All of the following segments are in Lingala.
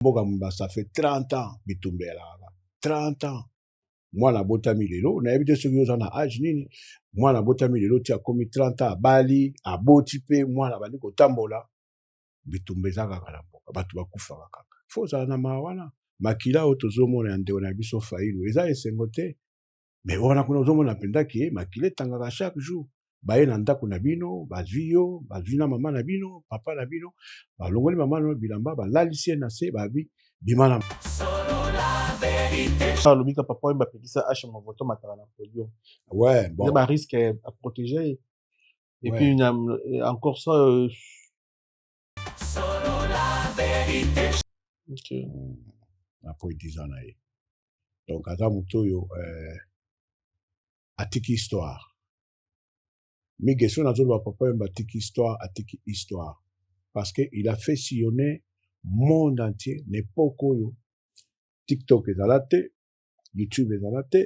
mboka mobimba ça fait 30 ans bitumba elalaka 30 ans mwana abotami lelo nayebi te soki oza na age nini mwana abotami lelo ti akomi 30 ans abali aboti mpe mwana abandi kotambola bitumba eza kaka na mboka bato bakufaka kaka fo ozala na maa wana makila oyo tozomona ya ndeko na biso failu eza esengo te me wana kuna ozomona mpenza ke makila etangaka chaque jour baye na ndako na bino bazwi yo bazwi na mama na bino papa na bino balongoli mama na bilamba balalisi ye na se babi bima na alobi ka papa oyo bapekisa ashe mavoto matala na podium ouais, bon. ba risque à protéger et ouais. puis euh, encore ça euh, Okay. Mm. na po 10 ans na ye donc aza moto oyo euh, atiki histoire mige so nazoloba papa yemba atiki histoire atiki histoire parce que il a fait sillonner monde entier na epoke oyo tiktok ezala te youtube ezala te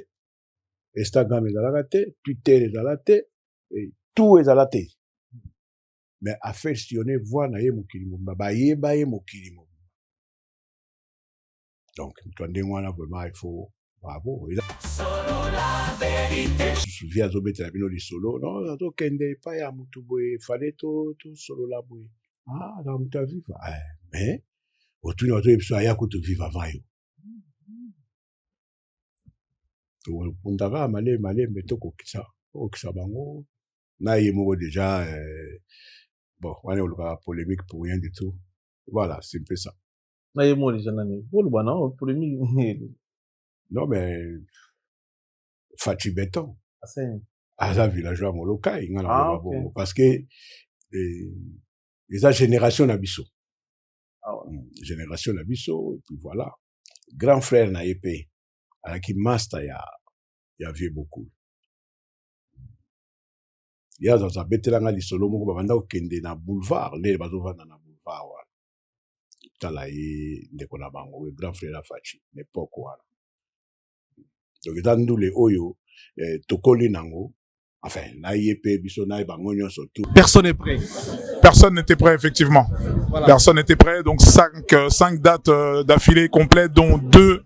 instagram ezalaka te twitter ezala te tout ezala te mais a fait sillonner voix na ye mokili mobimba bayeba ye mokili mobimba donc moto ya ndenge wana vraiment il faut bravo vie azobetela bino lisolo non azokende epai ya motu boye efale tosolola to boye ah na moto aviva eh, mais otuni bato biso aya kutu viva avant yo tokundaka malembe malembe tokokisa kokisa bango na ye moko deja eh, bon wana olukaka polemique pour rien du tout voilà c'est un peu ça na ye moko deja nani oloba na polemique non mais faci beton aza villageois molokai nga na ah, okay. bongo parce que eh, eza génération na biso ah, ouais. Hmm, génération na biso et puis voilà grand frère na ye mpe alaki master ya ya vieux bokul ye azaza abetela nga lisolo moko babanda kokende na boulevard lele bazovanda na boulevard wana tala ye ndeko na bango oyo grand frère ya faci na epoke wana donc eza ndule oyo eh, tokoli nango enfin na ye mpe biso na ye bango nyonso tu personne est prêt personne n'était prêt effectivement voilà. personne n'était prêt donc cinq, euh, cinq dates euh, d'affilée complète dont deux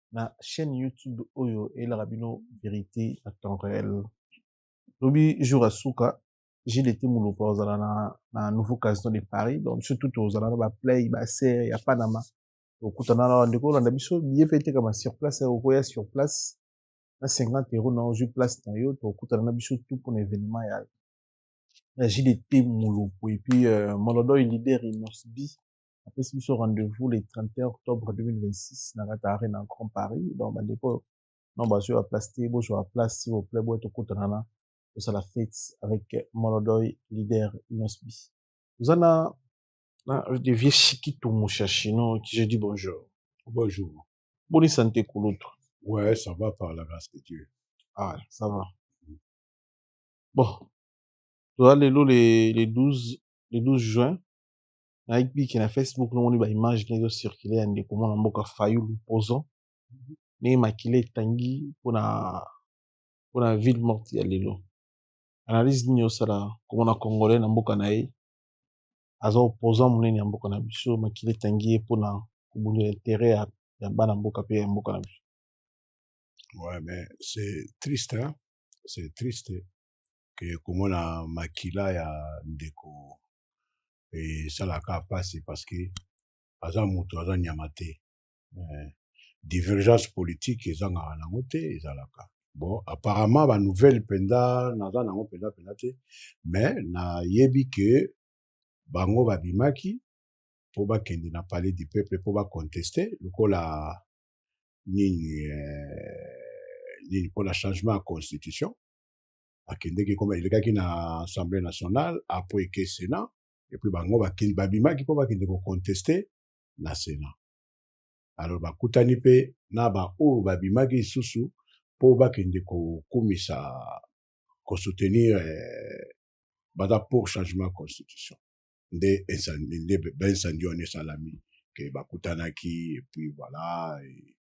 na chaîne YouTube oyo elaka bino verite na temps réel. Lobi jour à suka Gilles était mulupa ozala na, na nouveau casino de Paris donc surtout tout ozala na ba play ba serre ya Panama okutana na ndeko olanda biso billet pe etekama sur place okoya sur place na 50 euros na ozwi place na yo tokutana na biso tout mpona événement ya ya JDT Mulupu et puis euh, Molodoy leader Inosbi apesi biso rendez-vous le 31 octobre 2026 na kati arena na grand paris donc bandeko oyo non bazwi baplace te bozwa baplace si voplait boye tokutanana tosala fete avec molodoy leader inosbi oza na na de vieux chikitu mushashino qui je dis bonjour bonjour boni sante kulutu ouais ça va par la grâce de dieu ah ça va bon toza lelo le, le 12 le 12 juin nayebiki na facebook nomoni ba image ndenge ezo circule ya ndeko mwana mboka fayulu poison ndenge makila etangi mpona mpona ville morte ya lelo analyse nini osala komona congolais na mboka na ye aza opposant monene ya mboka na biso makila etangi ye mpona kobundela intere ya, ya bana mboka mpe ya mboka na biso ouais mais c'est triste hein? c'est triste ke komona makila ya ndeko esalaka mpasi parce que aza moto aza nyama te eh, divergence politique ezangaka nango te ezalaka bon apparemment banouvelle mpenza naza nango mpenza mpenza te mais nayebi ke bango babimaki mpo bakende na palais du peuple mpo baconteste lokola nini eh, nini mpo na changement ya constitution akendeki ekoma elekaki na assemblée nationale apres eke sénat epuis bango babimaki mpo bakende koconteste na sénat alors bakutani mpe na baoyo babimaki lisusu mpo bakende kokumisa kosoutenir eh, baza pour changement ya constitution nde nde baincendie wana esalami ke bakutanaki epuis voilà et,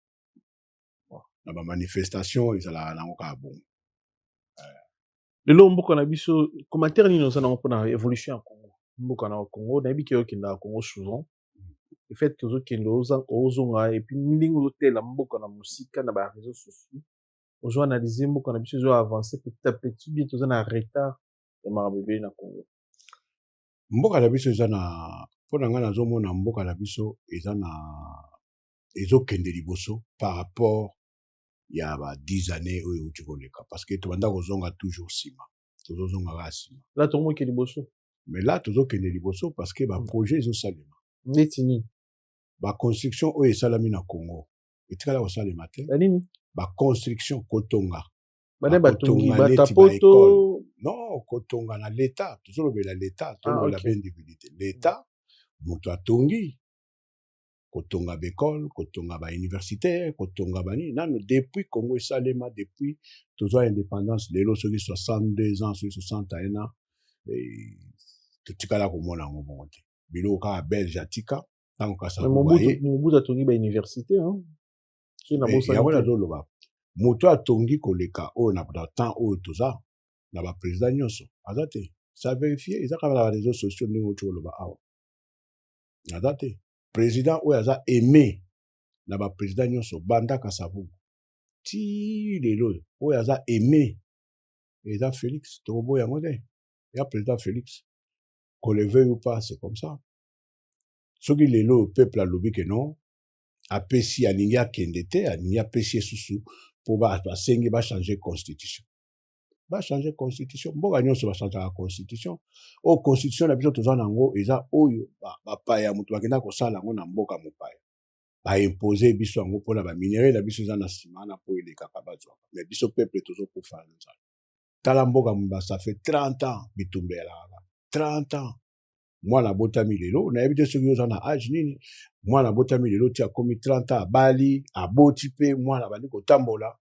na ba manifestation ezalaka nango kaka bongo lelo mboka na biso commentaire nini oza nango mpona évolution ya congo mboka na congo nayebi ke okendaka congo souvent efet tozokende ozonga epuis ndenge ozotela mboka na mosika na ba réseau sociaux ozo analyse mboka na biso ezo avance petit à petit bien toza na retard ya makambo ebele na congo mboka na biso eza na mpo na ngai nazomona mboka na biso eza na ezokende liboso par rapport ya ba 10 années oyo euti koleka parce que tobanda kozonga toujours nsima tozozonga kaka nsima la tomoke liboso mais la tozokende liboso parce que baprojet mm. ezosalema neti nini baconstruction oyo esalami na congo etikala kosalema te banini baconstruction kotonga bana batongi batapoto non kotonga na leta tozolobela leta tolobela ah, okay. mpe individu te leta moto atongi kotonga baekole kotonga bauniversité kotonga banini nano depuis congo esalema depuis tozwa indépendance lelo soki 62 ans soki 61 ans eh, totikala komona yango bongo te biloko kaka belge atika ntango kasamobutu atongi bauniversité yango nazoloba moto atongi koleka oyo na temps oyo toza na baprésident nyonso aza te sa verifie eza kaka na bareseau sociaux ndenge oti koloba awa naza te president oyo aza aime na bapresident nyonso banda kasavubu ti lelo oyo oyo aza aime eza felix tokoboya yango te ya president felix qu'on le veuille ou pas c'est comme ça soki lelo oyo peuple alobi ke non apesi alingi akende te alingi apesi ye susu mpo basengi bachange constitution bachange constitution mboka nyonso bachangeaka constitution oyo oh, constitution na biso toza na yango eza oyo bapaya moto bakenda kosala yango na mboka mopaya baimpose biso yango mpona baminerai na biso eza na nsima wana mpo elekaka bazwaka me biso peuple tozokufa na nzala tala mboka mobasa fe 30 ans bitumba elaka 30 ans mwana abotami lelo nayebi te soki oza na age nini mwana abotami lelo ti akomi 30 ans abali aboti mpe mwana abandi kotambola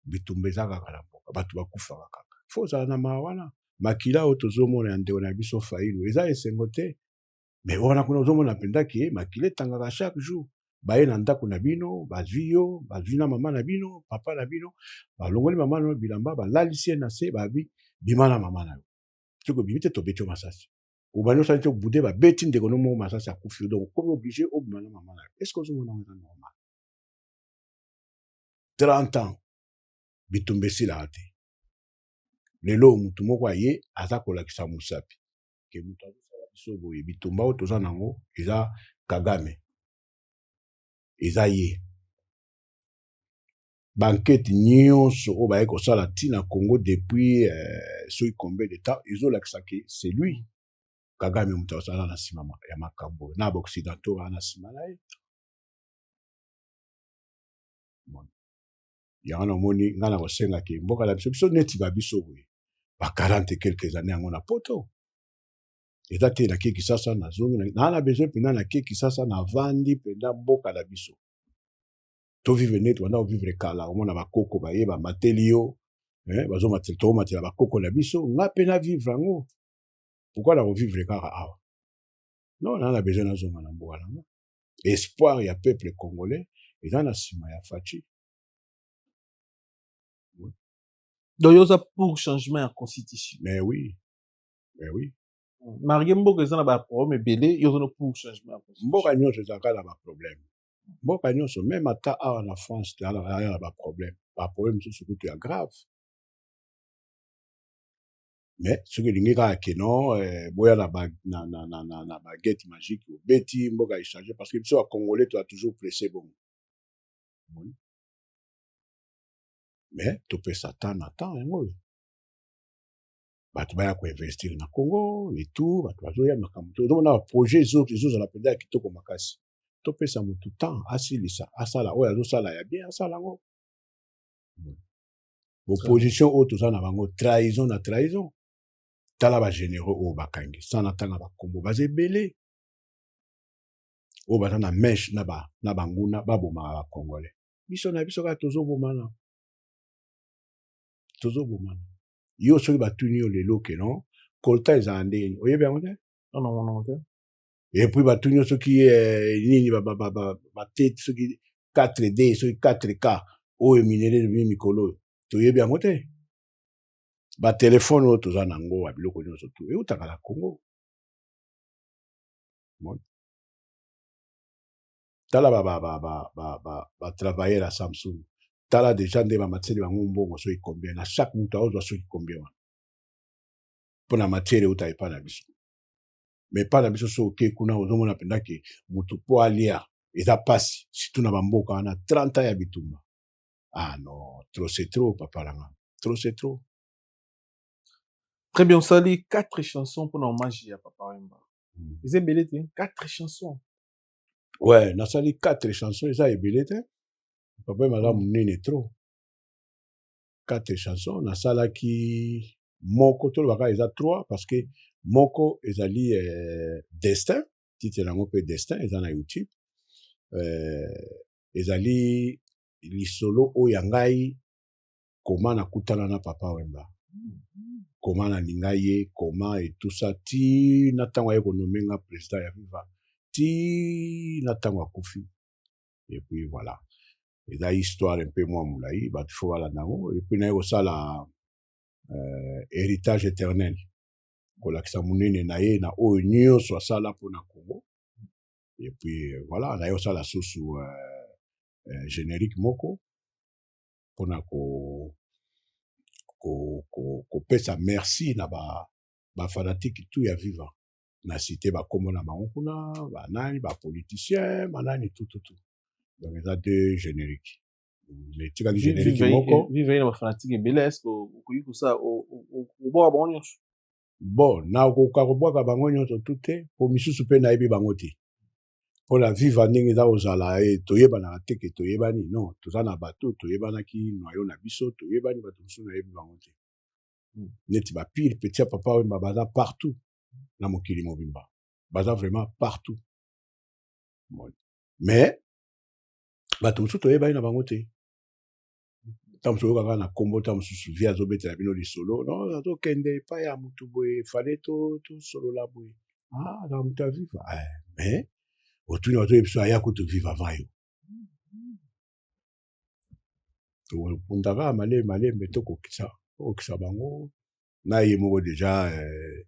bitumba eza kaka na mboka bato bakufaka kaka fo ozala na mawa wana makila oyo tozomona ya ndeko na biso failu eza esengo te me wana kuna ozomona mpenza ke makila etangaka chaque jour baye na ndako na bino bazwi yo bazwi na mama na bino papa na bino balongoli mama na bilamba balalisi ye na se babi bima na mama na yo soki obimi te tobeti yo masasi obandi osali te obude babeti ndeko no moko masasi akufi yo donc okomi oblige obima na mama na yo est ce que ozomona yango eza normal 30 ans bitumba esilaka te lelo oyo motu moko aye aza kolakisa mosapi ke motu azosala biso boye bitumba oyo toza nango eza kagame eza ye bankete nyonso oyo baye kosala ntina congo depuis euh, soki combien de temps ezolakisa ke c'est lui kagame motu azala na nsima ya makambo oyo na baoccidentaux wana na nsima na ye yango namoni ngai na kosenga ke mboka na biso biso neti ba biso boye ba 40 quelques années yango na poto eza te na keki sasa nazongi naa na besoin mpenza na keki sasa navandi mpenza mboka na biso tovivre neti banda kovivre kala omona bakoko baye bamateli yo eh, bazomatela tokomatela bakoko na biso ngai mpe na vivre yango pourkui na kovivre kaka awa non naa na besoin nazonga na mboka na ngai espoir ya peuple congolais eza na nsima ya faci donc yo oza pour changement ya constitution mais oui mais oui marge mboka eza na baproblème ebele yo ozana pour changement ya constitution mboka nyonso ezalaka na baproblème mboka nyonso meme ata awa na france tozalaka na baproblème baproblème mosusu kutu ya grave mais soki olingi kaka ke non eh, boya na, ba, na, na, na, na, na baguette magique obeti mboka echange parce que biso bacongolais toa toujours presse bongo omoni mais topesa temps na temps yango oyo bato baya koinvestir na congo etout bato bazoya makambo te ozomona baprojet ezozala mpenza ya kitoko makasi topesa motu temps asilisa asala oyo azosala ya bien asala yango opposition oyo toza na bango trahison na trahison tala bagénéraux oyo bakangi sa natanga bakombo baza ebele oyo baza na meshe na, ba, na banguna babomaka bacongolais biso na biso kaka tozobomana tozobomana yo soki batuni yo lelo ke non kolta ezala ndenge nini oyebi yango te epuis batuni yo soki eh, nini bate soki 4 d soki 4 k oyo minere ebimi mikolo oyo toyebi yango te batelefone oyo toza na yango ya biloko nyonso tu eutaka na congo tala batravailleur ya samsung tala deja nde bamatiseli bango mbongo soki combien na chaque moto aozwa soki combien wana mpo na matiere euta epai na biso mais epai na biso so oke kuna ozomona mpenza ke motu mpo alia eza mpasi surtout na bamboka wana 30 ya bitumba ah non trop c'est trop papa langa trop c'est trop très bien osali quatre chansons mpona hommage ya papa wemba hmm. eza ebele te quatre chansons ouais nasali quatre chansons eza ebele te papa wemba aza hmm. monene trop 4 chansons nasalaki moko toloba kaka eza 3 parce que moko ezali euh, destin titre yango mpe destin eza na youtube euh, ezali lisolo oyo ya ngai koma nakutana na papa wemba koma nalinga ye koma etusa ti na ntango aye konome nga président ya viva ti na ntango akufi epuis voilà eza histoire mpe mwa molai bato fo balanda yango epui naye kosala uh, héritage éternel kolakisa monene na ye na oyo nyonso asala mpo na congo epui euh, voilà naye kosala susu uh, uh, générique moko mpo na ko kopesa ko, ko merci na ba bafanatike tu ya viva na cite bakombo na bango kuna banani bapoliticien banani tututu donc eza deux générique etikali générique moko vive na bafanatique ebele eske okoki kosala obwaka bango nyonso bon nakoka kobwaka bango nyonso tu te mpo misusu mpe nayebi bango te mpo na viva ndenge eza kozala e toyebanaka te ke toyebani non toza na bato toyebanaki noyo na biso toyebani bato mosusu nayebi bango te hmm. neti bapire petit ya papa wemba baza partout na mokili mobimba baza vraiment partout mais bato mosusu toyebani na bango te ntango mosusu oyokaka na nkombo ntango mosusu vie azobetela bino lisolo no azokende epai ya motu boye fale tosolola boye ah, na motu aviva eh, mais otuni otoyebi biso aya kutu vive avant yo tokopundaka malemi malembe tokokisa tokokisa bango na ye moko deja eh,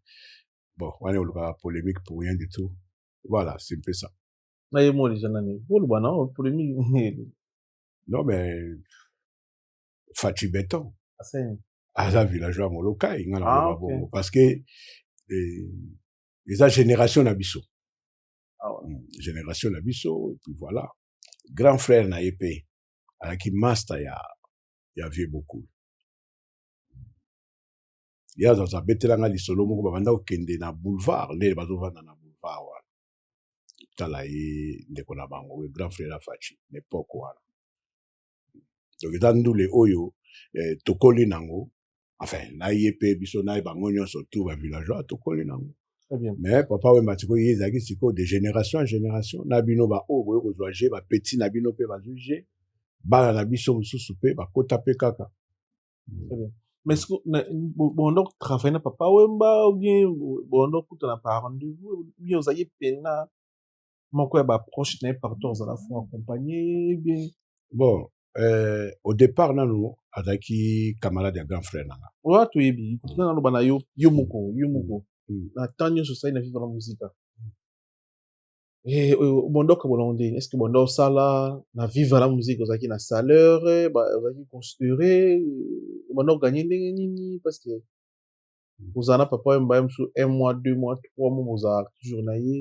bon wana olukaka polemique pour rien du tout voilà c'est un peu ça na ye moko deja nani oloba na polemique non mais faci beton aza villageois molokai nga na ah, okay. bongo parce que eh, eza génération na biso ah, ouais. Hmm, génération na biso et puis voilà grand frère na ye mpe alaki master ya ya vieux bokul ye azaza abetela nga lisolo moko babanda kokende na boulevard lele bazovanda na boulevard wana tala ye ndeko na bango oyo grand frère ya faci na epoke wana donc eza ndule oyo eh, tokoli nango enfin na ye mpe biso na ye bango nyonso tour ya villageois tokoli nango mais papa wemba sikoyo ye ezalaki sikoyo de génération en génération na bino baoyo boye kozwa je bapeti na bino mpe bazwi je bana na biso mosusu mpe bakota mpe kaka mais ce que na bon donc travailler na papa wemba ou bien bon donc kuta na par rendez-vous bien vous ayez pena moko ya ba proche na ye pardon ozala fo accompagner bien bon euh, au départ nanu azalaki camarade ya grand frère nanga oyo toyebi mm. na naloba na yo yo mm. moko yo moko mm. na temps nyonso osali na viva na mosika eh, oyo bondoka bolongo ndeni est ce que bonda osala na viva na mosika ozalaki na saleur ozalaki considere bonda oganye ndenge nini parce que ozala na papa oyo mbaye mosusu un mois deux mois trois mois bozalaka toujours na ye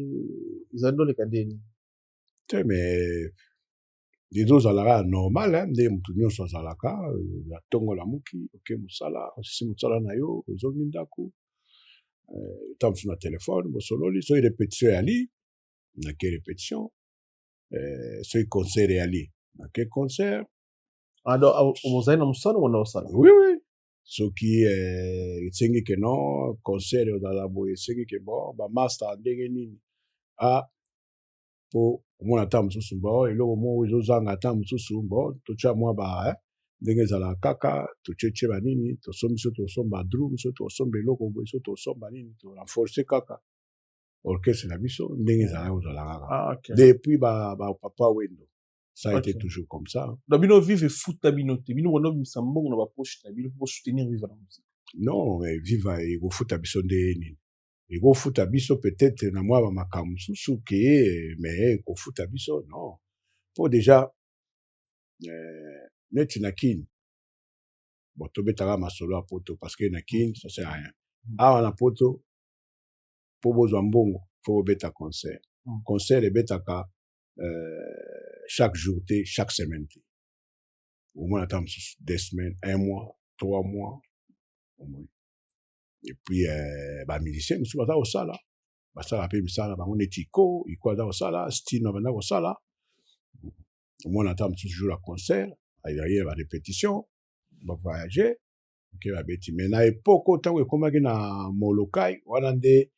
ezali ndoleka ndeni te mais dezo ozalaka ya normal ndenge moto nyonso azalaka ya euh, ntongo lamuki oke mosala osisi mosala na yo ozongi ndako ntango euh, mosusu na telefone bosololi soki repetition eyali nake repetition euh, soki concert eyali nake concert alors ah, ozali na mosala wana osala oui oui soki esengi ke non concert ozala boye esengi ke bon bamaster ndenge nini ah mpo omona ntango mosusu bo eloko moko ezozanga ntango mosusu bo totya mwa ba eh, ndenge ezalaka kaka totyetye banini tosombi so tosomba drum so tosomba eloko boye so tosomba nini torenforce kaka orchestre na biso ndenge ezalaki kozala kaka ah, depuis bapapa wendo ça a été toujours comme ça na bino vive efuta bino te bino bana obimisa mbongo na bapoche na bino mpo bosoutenir vive na mosika non mais vive ekofuta biso nde nini ekofuta biso peut-être na mwa bamakambo mosusu ke me ekofuta biso non mpo deja eh, neti na kin bon tobetaka masolo ya poto parce que na kin ça sert rien mm. awa na poto mpo bozwa mbongo mpo bobeta concert mm. concert ebetaka euh, chaque jour te chaque semaine te omona ata mosusu deux semaines un mois trois mois omoni epuis eh, bamusicien mosusu baza kosala basala mpe misala bango neti iko iko aza kosala stino abanda kosala omona ata mosusu jour ya concert aye ba répétition bavoyage oke babeti mai na epoko ntango ekomaki na molokai wana nde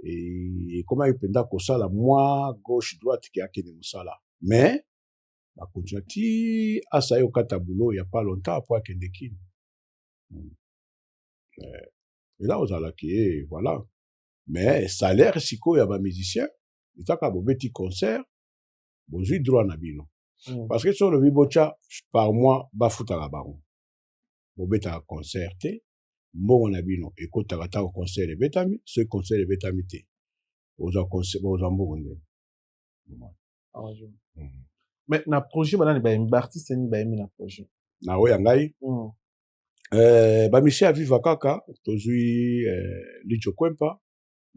eh, ekomaki mpenza kosala mwa gauche droite ke akende mosala mais bakontinua ti asai okata boulot ya pas longtemps mpo akende kini hmm. eh, eza kozala ke voilà mais salaire sikoyo ya bamusicien ezaka bobeti concert bozwi droit na bino mm. parce que so olobi botya par mois bafutaka bango bobetaka concert te mbongo na bino ekotaka ntango concert ebetami soki concert ebetami te ozwa mbongo ndeni mais na projet banani bayembi baartiste nini bayembi na projet na oyo ya ngai mm. eh, bamisie ya viva kaka tozwi eh, lijo kwempa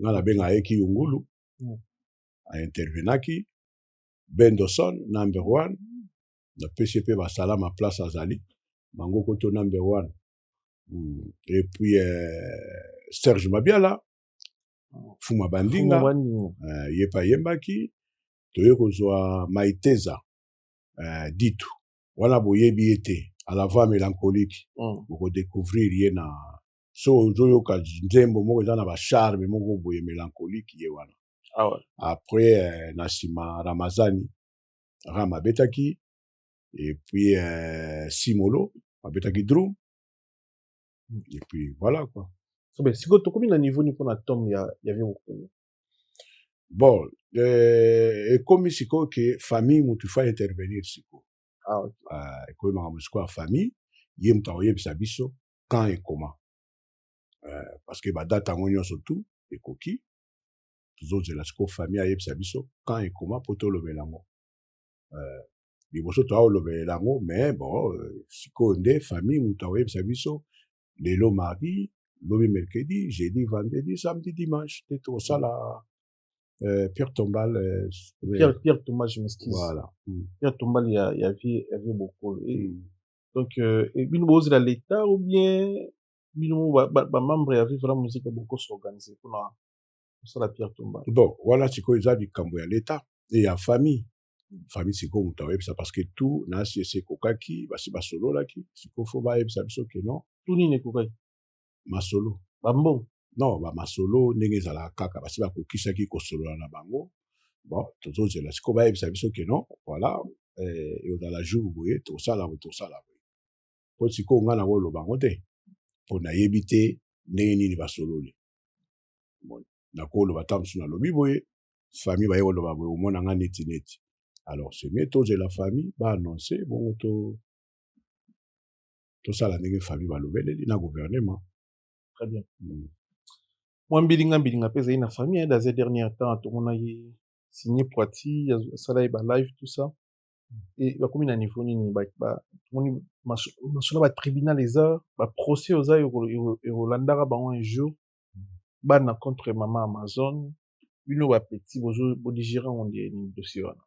nga nabenga ye kiyungulu mm. aintervenaki bendoson number one napesi mpe basalama place azali bango koto number one mm. et puis eh, serge mabiala fuma bandinga eh, ye mpe ayembaki toye kozwa maiteza eh, ditu wana boyebi ye te à la voix mélancolique mm. boko découvrir ye na so ozoyoka nzembo moko eza na bacharme moko boye mélancolique ye wana ah ouais. après euh, na nsima ramazani ram abetaki et puis euh, simolo abetaki drum mm. et puis voilà quoi sikoyo tokomi na niveau nini mpona tome ya, ya vie mokolo bon euh, ekomi sikoyo ke famille motu fa intervenir sikoyo ah, okay. uh, ekomi makambo sikoyo ya famille ye moto akoyebisa biso quand ekoma uh, parce que badate yango nyonso tu ekoki tozozela sikoyo famille ayebisa biso quand ekoma mpo tolobela yango uh, liboso toaolobela yango mais bon euh, sikoyo nde famille moto akoyebisa biso lelo mardi lobi mercredi jeudi vendredi samedi dimanche te tokosala euh, pierre tombal euh, pierre, pierre tombal je m'excuse voilà. mm. pierre tombal ya, ya vie ya vie bokolo et, mm. donc euh, et bino bozela l'état ou bien bino bamembre ba, ba ya vie vala mosika bokosi organise mpona kosala pierre tombal bon wana sikoyo eza likambo ya l'état e ya famille famille sikoyo moto akoyebisa parce que tout na asi esi ekokaki basi basololaki sikoyo fo bayebisa biso ke non tout nini ekokaki masolo bambongo non bamasolo ndenge ezalaka kaka basi bakokisaki kosolola na bango bon tozozela sikoyo bayebisa biso ke non voilà eh, ekozala jour boye tokosala boye tokosala boye mpo sikoyo ngai nakoloba yango te mpo nayebi te ndenge nini basololi nakoloba ata mosusu nalobi boye famille baye koloba boye omona nga neti neti alors semie tozela famille baannonce bongo to tosala ndenge famille balobeleli na gouvernement très bien mm. mwa mbilinga mbilinga mpe ezali na famille ya daze dernier temps tomona ye signe poiti asala ye balive tout ça e bakomi na niveau nini tomoni masolo ya batribunal eza baprocès oza ekolandaka bango un jour bana contre mama amazone bino ba petit bozo bodigere yango nde nini dossier wana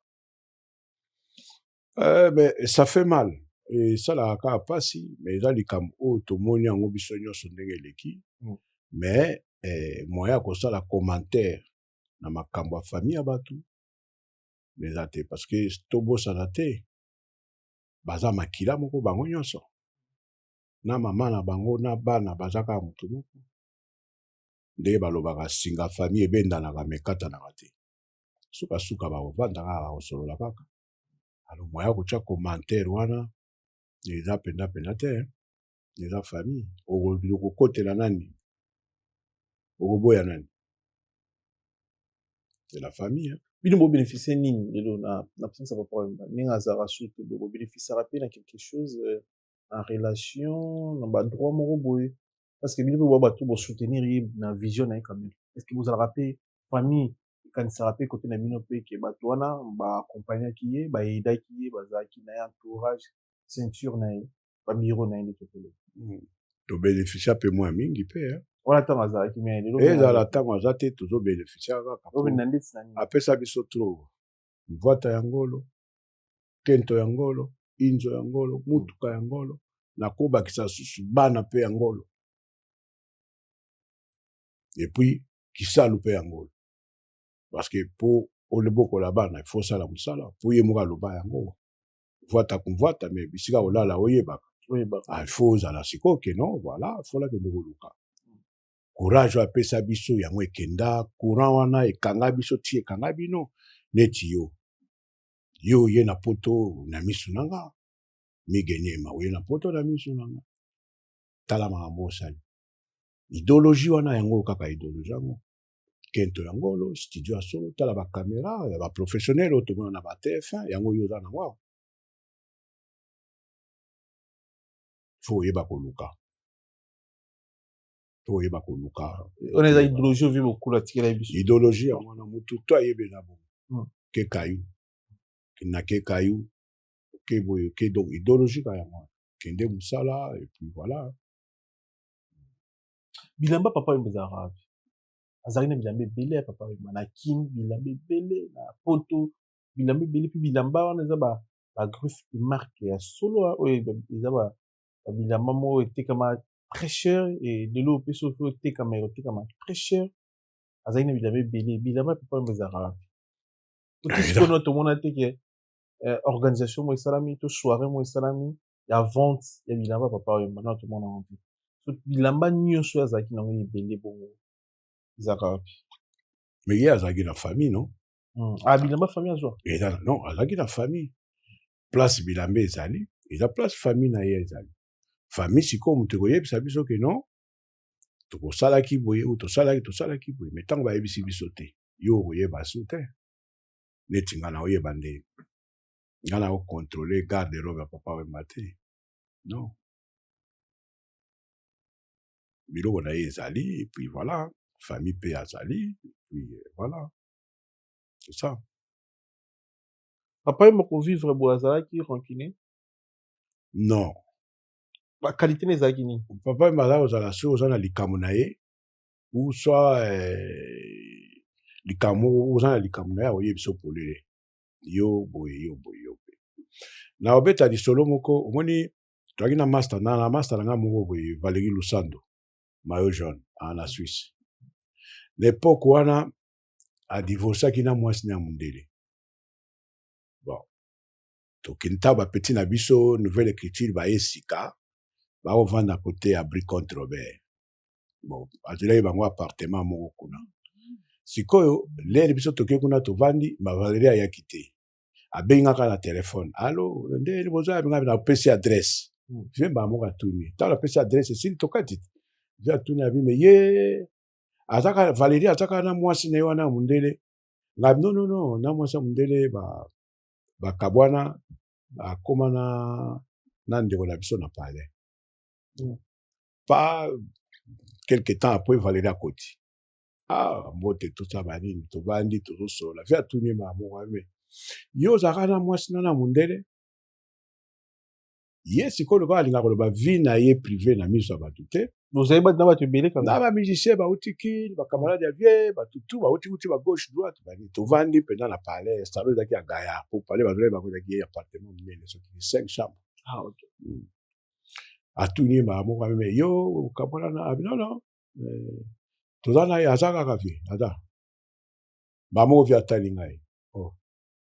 euh, mais ça fait mal esalaka kaka mpasi mais eza likambo oyo tomoni yango biso nyonso ndenge eleki mm. mais eh, moyen ya kosala commentaire na makambo ya famille ya bato eza te parce que tobosana te baza makila moko bango nyonso na mama na bango na bana baza kaka motu moko nde balobaka singa famille ebendanaka me ekatanaka te sukasuka bakovanda kaka bakosolola kaka alo moya kotya commentaire wana eza mpenza mpenza te eza famille okokotela nani okoboya nani c'est la famille bino bobeneficie nini lelo na absence ya papa wemba ndenge azalaka su te bokobénéficiaka mpe na quelque chose euh, na relation na ba droit moko boye parce que bino mpe boa bato bo soutenir ye na vision na ye quand même est ce que bozalaka mpe famille ekanisaka mpe kote na bino mpe ke bato wana ba accompagnaki ye ba aidaki ye bazalaki na ye entourage ceinture na ye ba biro na ye nde tokoloba hmm. to beneficia mpe mwa mingi mpe wana ntango azalaki me lelo ezala ntango aza te tozo beneficia kaka apesa biso trop mvwata ya ngolo kento ya ngolo inzo ya ngolo motuka ya ngolo na kobakisa susu bana mpe ya ngolo epuis kisalu mpe ya ngolo parceke mpo olebokola bana ifo osala mosala mpo ye moko aloba yango vwata kumvwata me bisika olala oyebaka ah, ifo ozala sikoyo keno voilà fola kende koluka courage oyo apesa biso yango ekenda courant wana ekanga biso ti ekanga bino neti yo yo oye na poto na misu na nga mige niema oye na poto na misu na nga tala makambo osali ideologie wana yango kaka ideologie yango kento ya ngolo studio ya solo tala bakamera ya baprofessionnel oyo tomona na batf1 yango yo oza na ngo fo oyeba koluka to oyeba koluka ona eza idéologie ovi bokula tikela ye biso idéologie yango wana motu to ayebela bo hmm. ke kayu na ke kayu ke boye ke donc idéologie ka yango wana kende mosala et puis voilà bilamba papa oyo ezalaka wapi azalaki na bilamba ebele ya papa oyo na kin bilamba ebele na poto bilamba ebele mpe bilamba wana eza ba bagriffe marke ya solo oyo eza bilamba moko etekama très cher et lelo oyo mpe soki otekama ekotekama très cher azali na bilamba ebele bilamba mpe mpamba ezalaka wapi otisikono ah, tomona te ke eh, organisation moko esalami to soirée moko esalami ya vente ya bilamba papa oyo mbana tomona yango te so bilamba nyonso oyo azalaki nango ebele bongo ezalaka wapi me ye azalaki na famille no hmm. ah, bilamba famille azwa non azalaki na famille place bilamba ezali eza place famille na ye ezali famille sikoyo moto ekoyebisa biso ke non tokosalaki boye ou tosalaki tosalaki boye me ntango bayebisi biso te yo okoyeba su te neti ngai naoyeba nde ngai naokontrole garde robe ya papa wemba te non biloko na ye ezali epuis voilà famille mpe azali epuis euh, voilà c'est ça papa ye moko vivre boye azalaki rancune non bakalite na ezalaki nini papa yemba azalaki kozala soki oza na likambo na ye ou soit eh, likambo moko oza na likambo na ye akoyebisa polele yo boye yo boye yo boye na obeta lisolo moko omoni toyaki na master na na master na ngai moko boye valeri lusando mayo jaune ah, na suisse na epoke wana adivorcaki na mwasi na ya mondele toke ntaba petit na biso nouvelle écriture baye sika bakovanda kote ya bricont robert bon azwelaki bango appartement moko kuna sikoyo lere biso toke kuna tovandi bavalerie ayaki te abengi nga kaka na telefone alo nde boza ya bingabi napesi adresse hmm. vie mbaa moko atuni ntango napesi adresse esili tokati te vie atuni abi me ye azaka valerie azaka na mwasi na ye wana ya mondele ngabi nonono na mwasi ya mondele ba bakabwana akoma na na ndeko na biso na palais mm. pa quelque temps après valeri akoti ah mbote tosa banini tobandi tozosola vi atuni makamoko ame yo ozalaka na mwasi na na mondele ye sikoyo lokola alinga koloba vie na ye prive na miso ya bato te bozali bato na bato ebele kaka na bamusicien bauti kini bacamarade ya vie bato tu bauti uti ba gauche droite bani tovandi mpenza na palais salo ezalaki ya gaya mpo palais bazali bango ezalaki ye appartement monene soki cinq chambre ah, okay. mm. atuni ye mbala moko ameme yo okabola na abi ah, nono eh, toza na ye aza kaka vie aza mbala moko vie atali ngai oh.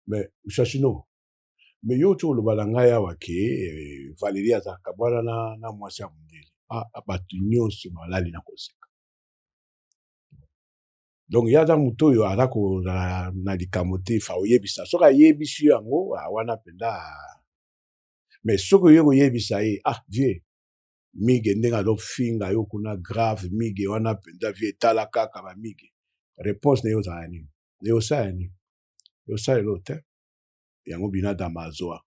mais chachino mais yo ti oloba na ngai awa ke eh, valerie azalaka kabwana na, na mwasi ya mondele ah, ah, bato nyonso balali na koseka donc ye aza moto oyo aza kozala na likambo te fa oyebisa soki ayebisi yo yango ah, wana mpenza mais soki oye koyebisa ye ah vieux mige ndenge azofinga yo kuna grave mige wana mpenza vie etala kaka bamige réponse na ye ozala nini na ye osala nini osalela oyo te yango binadama azwa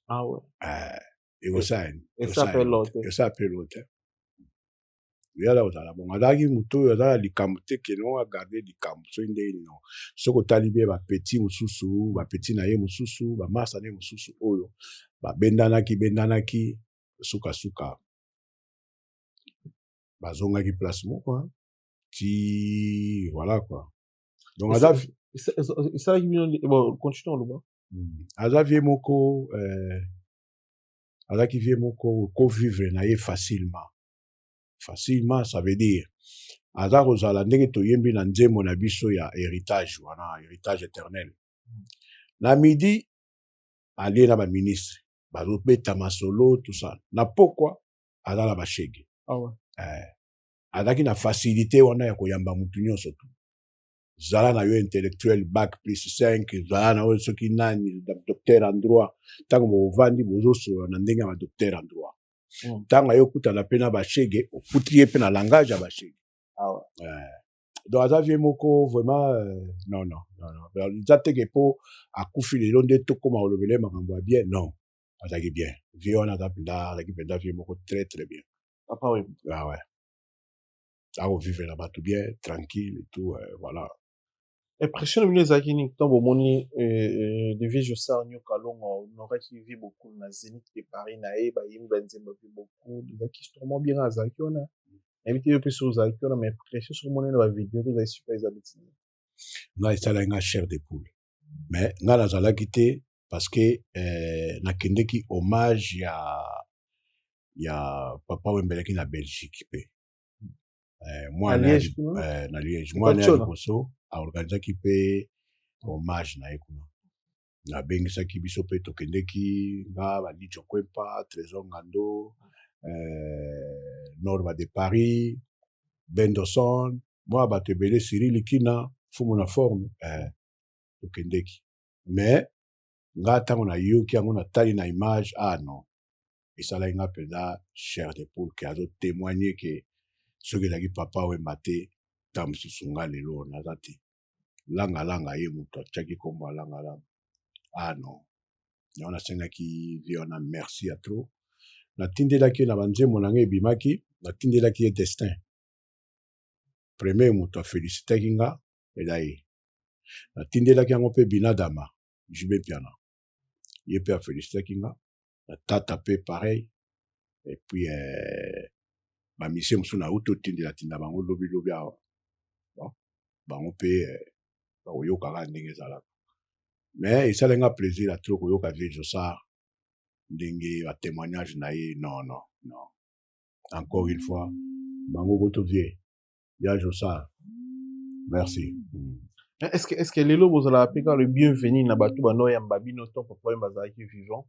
ah ouais. eh, ekosani esa pe lote yala ozala bongo azalaki moto oyo aza na likambo te keno agarde likambo soki ndenge nino soki otali bie bapeti mosusu bapeti na ye mosusu bamasa na ye mosusu oyo babendanaki bendanaki sukasuka bazongaki place moko ti voilà kua donc aza esalaki bino bon continue oloba hmm. aza vie moko euh, azalaki vie moko kovivre na ye facilement facilement ça veut dire aza kozala ndenge toyembi na nzembo na biso ya héritage wana héritage éternel hmm. na midi alie na baministre bazobeta masolo tusa na pokwa aza na bashege ah ouais. eh. azalaki na facilité wana ya koyamba mutu nyonso tu zala na yo intellectuel bac plus 5 zala na yo soki nani docteur en droit ntango bovandi bozosolola na ndenge ya badocteur en droit hmm. ntango aye okutana mpe na bashege okuti ye mpe na langage ya bashege ah eh. donc aza vie moko vraiment euh, non non non eza teke mpo akufi lelo nde tokóma kolobele makambo ya bien non azalaki bien vie wana aza mpenza azalaki mpenza vie moko très très bien papa wemba ah ouais akovivre na bato bien tranquille et tout euh, voilà impression na bino ezalaki nini ntango bomoni euh, euh, de vie josar nyoka longo onoraki vi bokul na zenith de paris na ye bayembi banzembo vi bokul ezalaki histoire mwa bien azalaki wana nayebi te yo mpe soki ozalaki wana ma impression soki omoni na bavideo to ozalaki suka eza bitini nga esalaki nga chair de poule mais nga nazalaki te parce que eh, nakendeki hommage ya ya papa wembelaki na belgique mpe eh, mwana ya Liège, li- kuna? eh, na liège mwana ya Chona. liboso aorganisaki mpe hommage na ye kuna nabengisaki biso mpe tokendeki nga balijo kwempa trésor ngando eh, norma de paris bendoson mwa bato ebele siri likina fumu na forme eh, tokendeki mais nga ntango nayoki yango natali na image ah non esalaki nga mpenza cher de poule ke azotemoigne ke soki ezalaki papa wemba te ta mosusu nga lelo naza te langalanga ye moto atiaki nkombo ya langalanga ah non yango nasengaki vie wana merci ya trop natindelaki ye na banzembo na ngai ebimaki natindelaki ye destin premier moto afelisitaki nga eza ye natindelaki yango mpe binadama jube mpiana ye mpe afelisitaki nga na tata mpe pareil epuis eh, bamisie mosusu nauti otindelatinda bango lobilobi awa bon, bango mpe eh, bakoyoka kaka ndenge ezalaka me esali nga plaisir atro koyoka vie josar ndenge batémoignage na ye non non non encore une fois bango kutu vie ya josar merci mm. eh, est-ce que est-ce que lelo bozalaka mpe kaka le bienvenu na bato banoyamba bino to papa oyo bazalaki vivant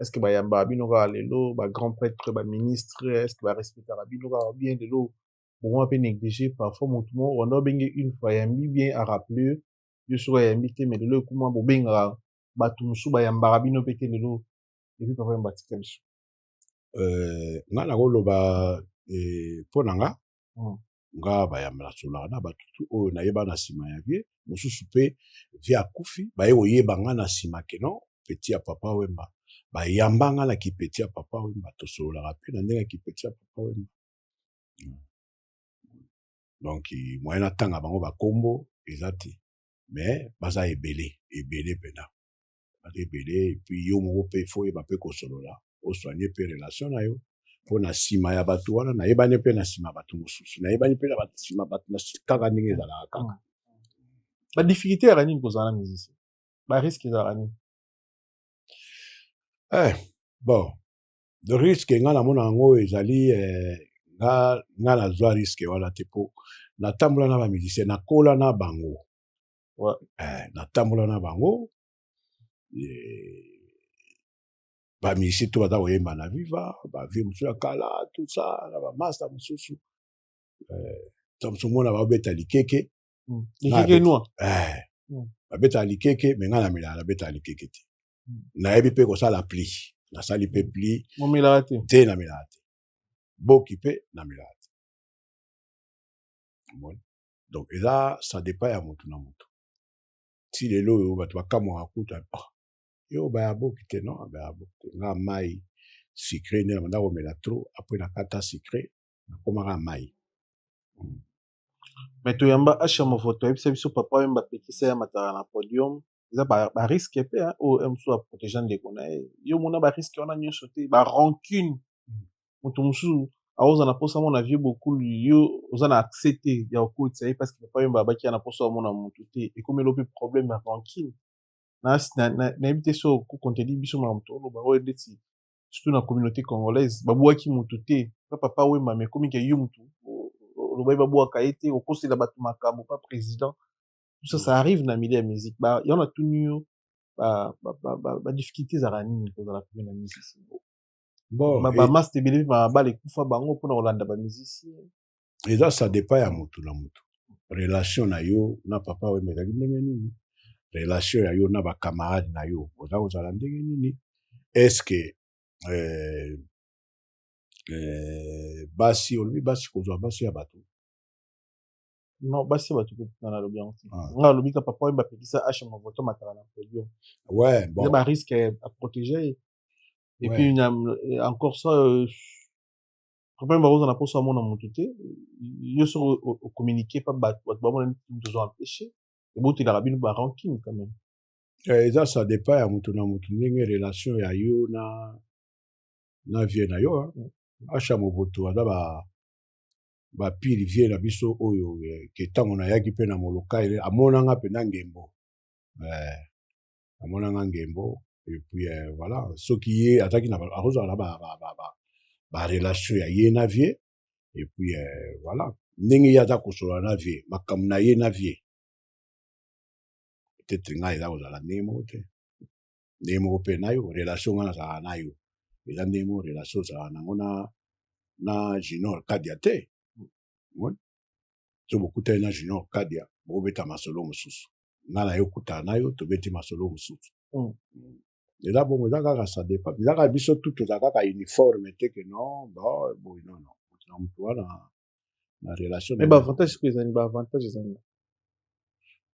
est-ce que bayambaka bino kaka lelo ba grand prêtre ba ministre est-ce que barespectaka bino kaka bien lelo bokoma mpe néglige parfois motu moko rwanda obenge une fois ayambi bien arappele yo soki ayambi te mais lelo ekuma bobengaka bato mosusu bayambaka bino mpe te lelo epi papa yamba atika biso euh, nga nakoloba eh, mpo na nga mm. nga bayamba nasolaka na bato tu oyo nayeba na nsima ya vie mosusu mpe vie akufi baye koyeba nga na nsima keno peti ya papa wemba bayamba nga na kipeti ya papa wemba tosololaka mpe na ndenge ya kipeti ya papa wemba mm. donc moyen natanga bango bakombo eza te mais baza ebele ebele mpenza bato ebele epuis yo moko mpe fo oyeba mpe kosolola osoigne mpe relation na yo mpo na nsima ya bato wana nayebani mpe na nsima ya bato mosusu nayebani mpe na nsima bato na kaka ndenge ezalaka kaka badifficulté yaka nini kozala na musicien bariske ezalaka nini eh, bon le risque nga namona yango ezali eh, nga nga nazwa risque wana te mpo natambola na bamusicien nakola na bango ouais. eh, natambola na bango eh, bamisi to baza koyemba na viva bavie mosusu ya kala tout ça na bamasta mosusu eh, ta mosusu mona babeta likeke Mm. Na Likeke abeta- noir. eh, Mm. babetaka likeke me ngai na melaka nabetaka likeke te Mm. nayebi mpe kosala pli nasali mpe pli Momelaka te. te na melaka te boki mpe na melaka te Omoni? donc eza ça dépend ya mutu na mutu ti lelo oyo bato bakamwaka kuta oh, yo baya boki te non baya boki te nga mai sucre nde nabanda komela trop apres nakata sucre nakomaka mai hmm. me toyamba asha movoto ayebisa biso papa wemba apekisa ya matala na podium eza ba risque pe hein, oyo msu aproteja ndeko na ye yo omona ba risque wana nyonso te ba rancune mm. moto mosusu aoza na mposa amona vieux bokulu yo oza na accès te ya kokotisa ye parce que papa yomba abaki ya na mposa amona motu te ekomeli ope problème ya rancune nayebi te so kokontedi biso makambo toloba oyo ndeti surtout na communauté congolaise babwaki motu te pa papa wemba ma ekomi ke yo motu olobaki babwaka ye te okosela bato makambo pa président ça ça arrive na milieu ya musique ba ya natuni yo ba ba ba, ba, ba difficulté ezalaka nini kozala pene na musique bon ba, ba et... master ebele mpe mabala ekufa bango mpona kolanda ba musicien eza ça dépend ya motu na motu relation na yo na papa wemba ezalaki ndenge nini relation ya yo na bacamarade na yo oza kozala ndenge nini estce euh, euh, basi olobi basi kozwa basi ya bato non basi bato kokutana nalobi yango te Ah. nga alobi ka papa oyo bapekisa ashe movoto matala na podium ouais bon eza barisque à protéger ye et Ouais. puis na, eh, encore ça euh, problème bakozala na mposo amona motu te yo soki o- o- ocommunique pa bato bato bamona neti moto ozo empêche ebotelaka bino ba rancune quand même Eh, eza ça dépend ya moto na moto ndenge relation ya yo na na vie na yo hein. asha moboto aza ba ba pire vie na biso oyo eh, ke ntango nayaki mpe na molokai eh, amonanga mpenza ngembo eh, amonanga ngembo epuis eh, voilà soki ye azalaki akozala na barelation ba, ba, ba, ba ya ye na vie epuis eh, voilà ndenge ye aza kosolola na vie makambo na ye na vie peut-être ngai eza kozala ndenge moko te ndenge moko mpe na yo relation ngai nazalaka na yo eza ndenge moko relation ozalaka nango na na junior kadia te so bokutani na junior kadia bokobeta masolo mosusu ngai na yo okutana na yo tobeti masolo mosusu hmm. eza bongo eza kaka ça dépend eza kaka biso tout toza kaka uniforme te ke non boye nono moto na moto wana na relation mais baavantage sikoyo ezali baavantage ezali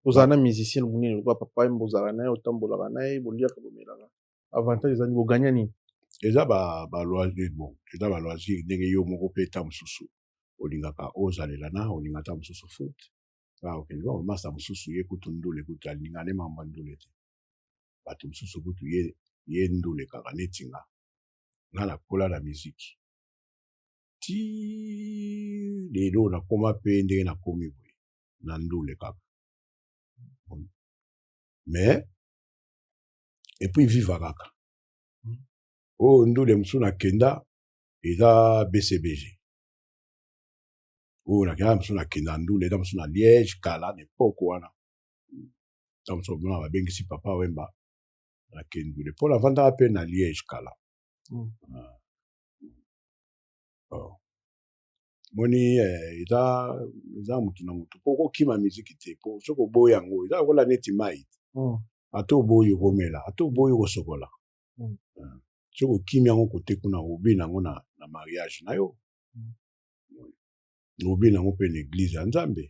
ozala na musicien monene lokola papa yemba ozalaka na ye otambolaka na ye boliaka bomelaka avantage ezali boganya nini eza baloisir bon eza baloisir ndenge yo moko mpe ta mosusu olingaka ozalela na olinga ta mosusu foot ah, okende ba bamasa mosusu ye kutu ndule kutu alinga ne mambo ya ndule te bato mosusu kutu ye ye ndule kaka neti nga nga nakola na miziki ti lelo nakoma mpe ndenge nakomi boye na ndule kaka mais epuis viva kaka hmm. oyo oh, ndule mosusu nakenda eza bcbg oyo oh, nakenda mosusu nakenda ndule eza mosusu na liège kala na epoke wana ntango mosusu omona babengisi papa wemba nakendule mpo navandaka mpe na liège kala hmm. ah. oh. moni eh, eza eza mutu na mutu po okokima miziki te po soki oboyi yango eza lokola neti mai mm. ata oboyi okomela ata oboyi okosokola mm. eh, soki okimi yango kote kuna obi na yango na, na mariage na yo mm. obi na yango mpe na eglize ya nzambe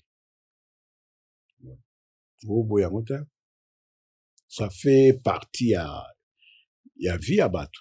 oboyi yango te ça fait partie ya, ya vie ya bato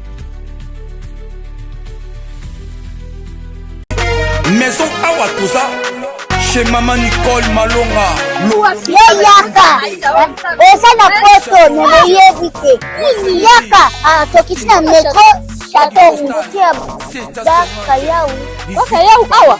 maison awa toza chez mama nicole malonga yeyaka oza na poto na boyebi te yaka atokisi ah, na metro chateau routier dakayawu dakayawu awa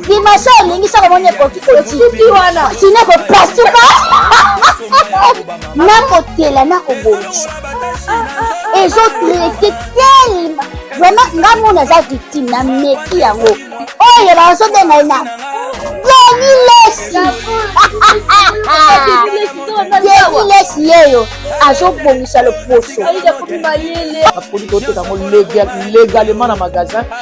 dimasha olingi soko moni ekoki kosuki wana sino ekopasuka nakotela nakobongisa ezotraite telema vraiment nga mona aza victime na meki yango oyo bazobenga ye na deni lesi deni lesi yeyo azobongisa loposo apoli koteka yango legalement na magasin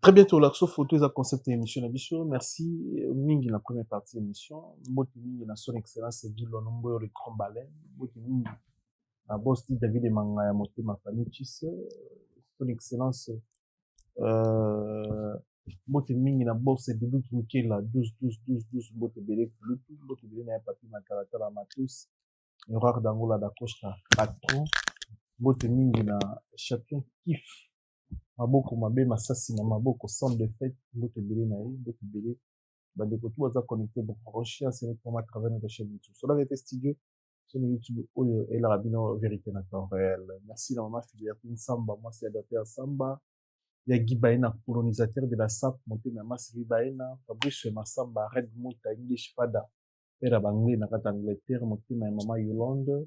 Très bien, tu as photo, ils ont concept émission na biso. Merci euh, mingi la première partie de l'émission. Mboti mingi na son excellence Guy Lonombo le grand baleine. Mboti mingi na boss David Mangaya Motema Famille Chisse. Euh, son excellence euh, mbote mingi na bourse bilutu mokela 12 12 12 12 mbote ebele bilutu mbote ebele na ya papi matalatala matus horaire dangola da costa patron mbote mingi na champion kif maboko mabe masasi na maboko sans defete mbote ebele na ye mbote ebele bandeko tu baza connecte bokoroshi asenekoma travers notre chaîne youtube sola verite studio chaîne youtube oyo elaka bino verite na temps réel merci na mama filiya mpe nsamba mwasi ya dater nsamba ya gibaena colonisateur de la sap motema ya masi libaena fabrice masamba red muta english fada père ya banglais na kati angleterre motema ya mama yolande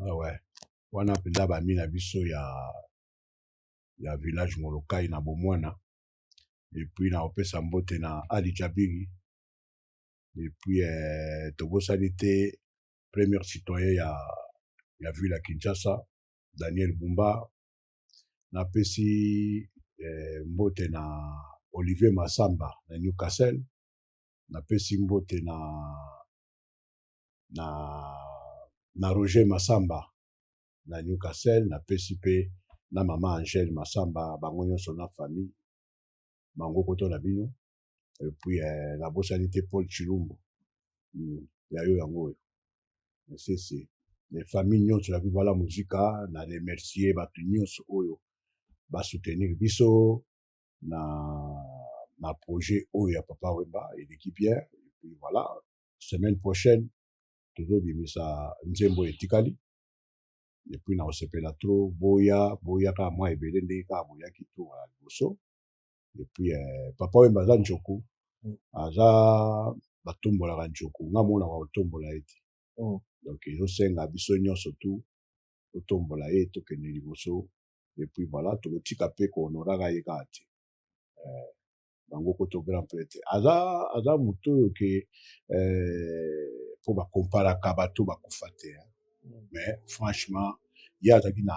Ah ouais. Wana mpenza bami na biso ya, ya village Molokai na Bomwana. Et puis na opesa mbote na Ali Jabiri. Et puis eh, tobosani te premier citoyen ya, ya ville ya Kinshasa, Daniel Bumba. Napesi eh, mbote na Olivier Massamba na Newcastle. Napesi mbote na na, na Roger Masamba na Newcastle, na pesi pe na mama Angèle Masamba bango nyonso na famille bango koto na bino et puis eh, na bosani te Paul Chilumbu mm, ya yo yango oyo sese les familles nyonso ya Viva la Musica na remercier bato nyonso oyo ba soutenir biso na na projet oyo ya Papa Wemba eleki bien et puis voilà semaine prochaine tozobimisa nzembo etikali epuis na kosepela tro boya boya kaka mwa ebele ndenge kaka boyaki to ya liboso epuis eh, papa oyo baza njoku mm. aza batombolaka njoku nga monaka kotombola ye te mm. donc ezosenga biso nyonso tu totombola ye tokende liboso epuis voilà tokotika mpe kohonoraka ye kaka te eh, bango koto grand prêtre aza aza moto oyo ke eh, mpo eh, bakomparaka bato bakufa te hmm. mais franchement ye azalaki na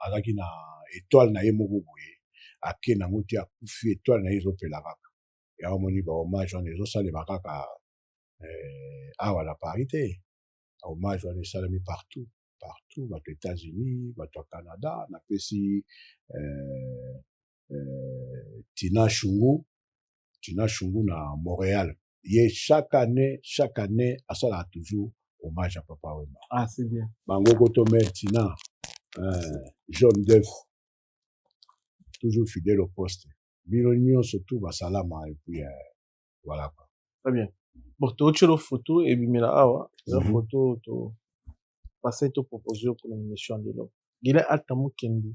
azalaki na etoile na ye moko boye ake nango te akufi etoile na ye ezopela kaka ya omoni bahommage wana ezosalema kaka eh, awa na paris te hommage wana esalami partout partout bato états-unis bato ya canada napesi eh, euh, Tina Shungu, Tina Shungu na Montréal. Ye chaque année, chaque année, asala toujours hommage à Papa Wemba. Ah, c'est bien. Bango Goto Mère Tina, euh, John Duff, toujours fidèle au poste. Bino nyonso tout basalama et puis euh, voilà quoi. Très bien. Bon, totyelo photo ebimela awa eza Mhm. photo to pasai topropose yo mpona émission ya lelo gile ata mokende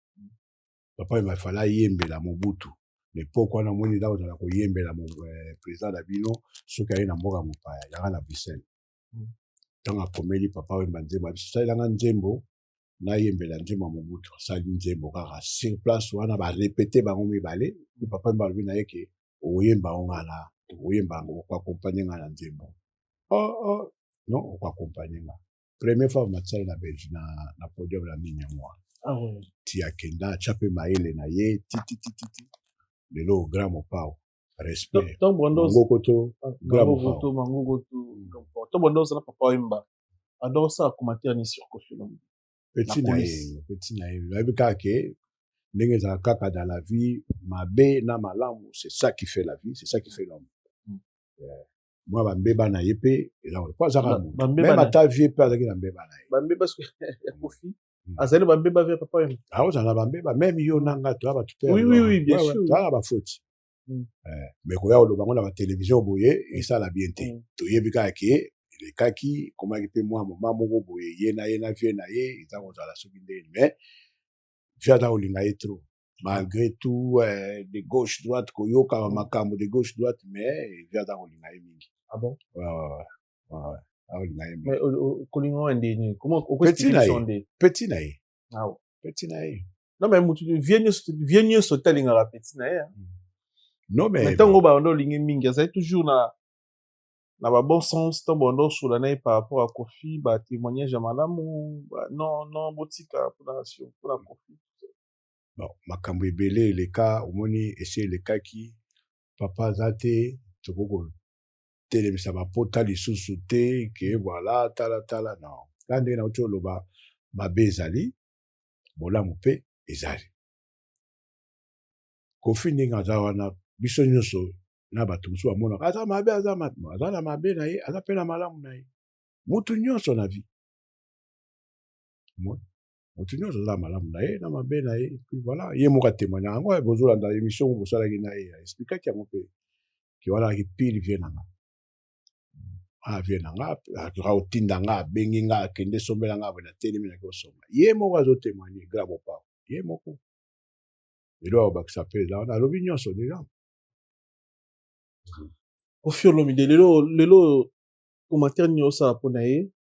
papa il fallait ayembela mobutu lepoke wana omoni nda kozala koyembela eh, président na bino soki aye na mboka mopaya yanga na bruxelles ntango hmm. akomeli papa wemba nzembo abisalelanga nzembo nayembela nzembo ya mobutu asali nzembo kaka sur place wana barepete bango mibale papa wemba alobi na ye ke okoyemba yango nga na okoyemba yango okoakompagne nga na nzembo oh, oh. non okoakompagne nga premier fois matisali na belge na, na podium na nini yango wana ah, oui. ti akenda atya mpe mayele na ye tititititi lelo grand mopao respect mangokoto ah, grand mopao mangokoto ntango banda ozala papa oyemba banda osala commentaire ni sur kofi olomide peti na ye peti na ye nayebi kaka ke ndenge ezalaka kaka dans la vie mabe na malamu c'est ça qui fait la vie c'est ça qui fait l'homme mm. mwa bambeba na ye mpe eloko mpo azaka Ba- moto bambeba meme na- ata vie mpe azalaki na mbeba na ye bambeba soki ya kofi Mm. azali bambeba vya papa yango akozala na bambeba meme yo na nga toya bato mpe Oui, oui, oui, bien sûr. toyaka bafoti Mm. Eh, mais koya koloba yango na batelevizio boye esala bien te Mm. toyebi kaka ke elekaki ekomaki mpe mwa moma moko boye ye na ye na vie na ye eza kozala soki ndeni mais vie aza kolinga ye trop malgré tout eh, de gauche droite koyoka ba makambo de gauche droite mais evi aza kolinga ye mingi ah bon? ouais, ouais, ouais. akolinga ye mais kolinga wana nde nini petit na ye petit na ye ah petit na ye non mais motu vie nyonso vie nyonso te alingaka petit na ye hein. hmm. non mais ntango banda olingi mingi azali toujours na na ba bon sens ntango banda osola na ye par rapport ya kofi ba témoignage ya malamu non non botika mpona mpona kofi bon, makambo ebele eleka omoni esi elekaki papa aza te tokoki kotelemisa bapota lisusu te ke voilà talatala non kaka ndenge nauti oloba mabe ezali bolamu mpe ezali kofi ndenge aza wana biso nyonso na bato mosusu bamonaka aza mabe aza mabe aza na mabe na ye aza mpe na malamu na ye motu nyonso na vie moto nyonso aza na malamu na ye na mabe na ye puis voilà ye moko atemanya yango eh, bozolanda émission oyo bosalaki na ye aexplikaki yango mpe ke wana alaki pile vie na nga avie ah, na nga atoka kotinda nga abengi nga akende sombela nga boye natelemi nake kosomba ye moko azotemanye grave opao ye moko elo akobakisa mpe eza wana alobi nyonso deja kofi olomide lelo lelo commentaire nini osala mpo na ye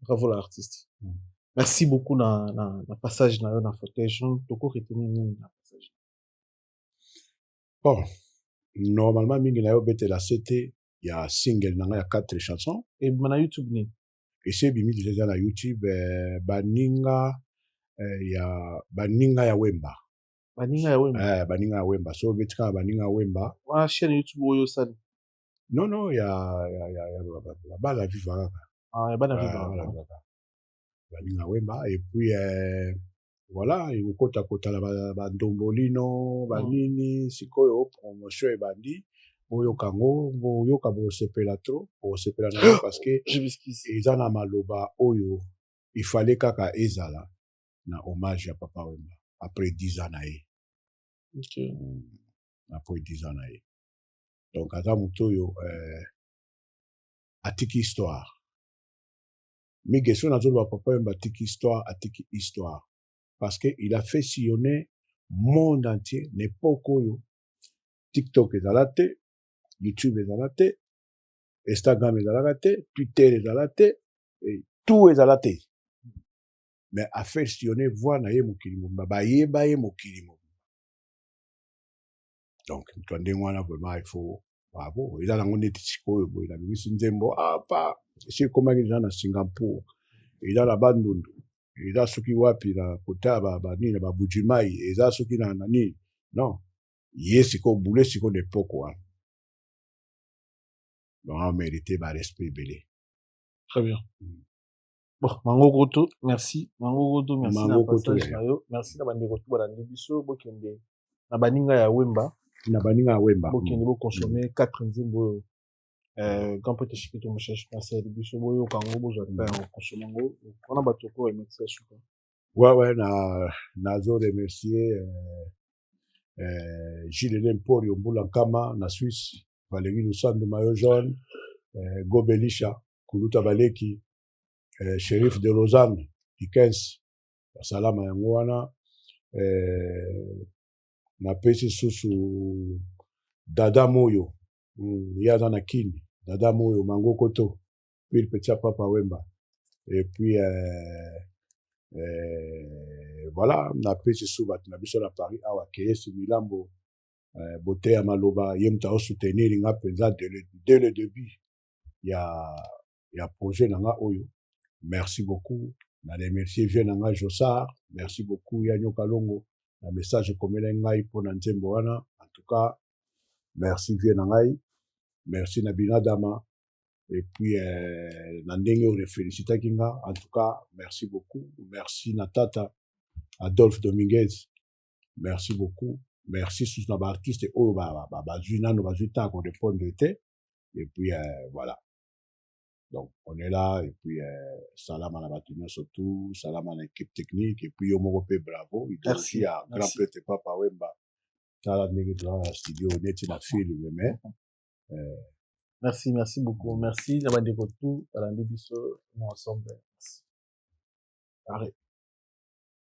bravo la artiste mm. merci beaucoup na, na, na passage na yo na fauteuil jaune toko retenir nini na passage bon normalement mingi na yo obetela se te ya single na ngai ya quatre chanson ebima na youtube nini esi ebimi deja eza na youtube eh, baninga eh, ya baninga ya wemba baninga ya wemba eh, baninga ya wemba so obeti kaka baninga ya wemba wana chaîne youtube oyo osali Non, non, ya, ya, ya, ya, ya bana ya viva kaka. Ah, ya bana ya viva kaka. Baninga Wemba, et puis, euh, voilà, ekokota kotala bandombolino, mm. banini, sikoyo, promotion ebandi. boyoka yango boyoka bosepela trop bosepela na yango parce que eza na maloba oyo ifale kaka ezala na hommage ya papa wemba après 10 ans na ye okay. Mm. après 10 ans na ye donc aza moto oyo euh, atiki histoire mige so nazoloba papa yemba atiki histoire atiki histoire parce que il a fait sillonner monde entier na epoke oyo tiktok ezala te youtube ezala te instagram ezalaka te twitter ezala te tout ezala te mais afait sillonner voix na ye mokili mobimba bayeba ye mokili mobimba donc moto ya ndenge wana vraiment il faut bravo ah eza nango neti sikoyo boye nabimisi nzembo apa ah, esi ekomaki eza na singapour eza na bandundu eza soki wapi na kota banini na babujimai eza soki na nani non ye sikoyo bule sikoyo na epoke wana donc amerite barespect ebele très bien mm. Bon, Mango Koto, merci. Mango Koto, merci Mango na Koto, passage na yo. Merci na bandeko tout balandi biso bokende na baninga ya Wemba. Na baninga ya Wemba. Bokende bo consommer 4 nzembo oyo. Euh, grand prêtre Chikito Mouchach, merci à biso boyo kango bozwa ta yango consommer yango. Wana bato ko remercier suka. Ouais ouais na nazo remercier euh, euh, Gilles Lemporio Mbula Nkama na Suisse, Valérie Lusando Mayo Jaune, euh, Gobelisha kuluta baleki eh, sherif de lausanne dikens basalama yango wana eh, napesi susu dada moyo mm, ye aza na kini dada moyo mangokoto puis le petit papa wemba et puis eh, eh, voilà napesi su bato na biso na paris awa keyesi milambo eh, boteya maloba ye moto aosoutenir nga mpenza de le, de le debut ya ya projet na nga oyo merci beaucoup na remercier vieux na nga josar merci beaucoup ya nyoka longo na message ekomelai ngai mpo na nzembo wana en tout cas merci vieux na ngai merci na binadama et puis euh, na ndenge oyo refelicitaki nga en tout cas merci beaucoup merci na tata adolphe dominguez merci beaucoup merci susu na baartiste oyo bazwi nano bazwi ntango korepondre te et puis euh, voilà donc on est là et puis euh, salama na bato nyonso tout salama na équipe technique et puis yo moko mpe bravo idolgie ya grand prêtre papa wemba tala ndenge tozala na studio neti na film mais euh, merci merci beaucoup merci na bandeko tout balandi biso na ensemble arrête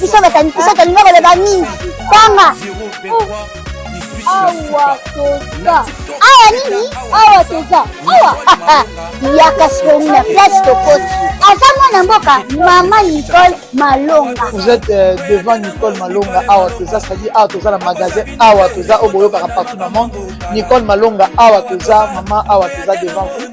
biso batalinga koloba nini tanga awa toza awa nini awa toza awa yaka sikoni na place tokoti aza mwana mboka mama nicole malonga vous êtes euh, devant nicole malonga awa toza sadi awa toza na magasin awa toza oyo boyokaka partout na monde nicole malonga awa toza mama awa toza devant vous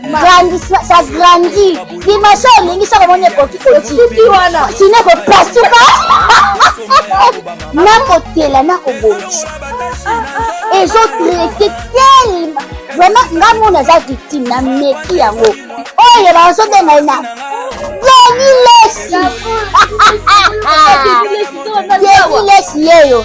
grandi ça grandi dimension olingi soki omoni ekoki kosuki wana sino ekopasuka nakotela nakobongisa ezotraite telema vraiment nga mona aza victime na meki yango oyo bazobenga ye na deni lesi deni lesi yeyo